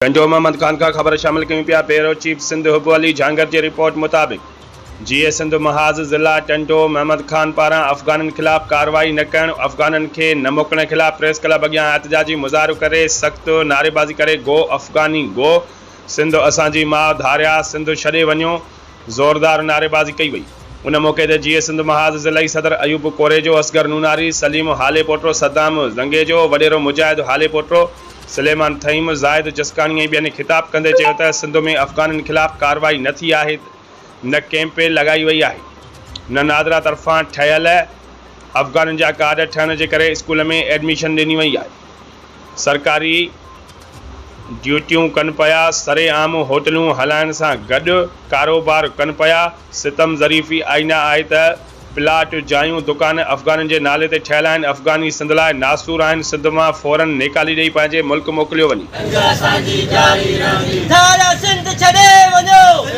گنڊو محمد خانڪا خبر شامل ڪيون پيا بيورو چيف سنڌ حب علي جهانگير جي رپورٽ مطابق جي اي سنڌ محاذ ضلع ٽنڊو محمد خان پاران افغانن خلاف ڪارروائي نه ڪرڻ افغانن کي نه موڪلڻ خلاف پريس ڪلب اڳيان احتجاجي مظاهرو ڪري سخت نعريبازي ڪري گو افغاني گو سنڌ اسان جي ماء ڌاريا سنڌ ڇڏي وڃو زوردار نعريبازي ڪئي وئي. ان موقعي تي جيئي سنڌ محاذ ضلعي صدر ايوب ڪوريجو، اصغر نوناري، سليم هاليپوٽو، صدام زنگيجو، وڏيرو مجاهد هاليپوٽو، سليمان ٿهيم، زاهد جسڪاڻي ۽ ٻين خطاب ڪندي چيو ته سنڌ ۾ افغانن خلاف ڪارروائي نه ٿي آهي، نه ڪئمپ لڳائي وئي آهي، نه نادرا طرفان ٺهيل افغانن جا ڪارڊ ٺهڻ جي ڪري اسڪول ۾ ايڊميشن ڏني وئي آهي. سرڪاري ڊيوٽيون ڪن پيا، سرعام هوٽلون هلائڻ سان گڏ ڪاروبار ڪن پيا، ستم ظريفي آئينه آهي ته پلاٽ، جايون، دڪان افغانن جي نالي تي ٺهيل آهن، افغاني سنڌ لاء ناسور آهن، سنڌ مان فورن نيڪالي ڏئي پنهنجي ملڪ موڪليو وڃي. جنگ اسان جي جاري رهندي. ڌاريا سنڌ ڇڏي وڃو.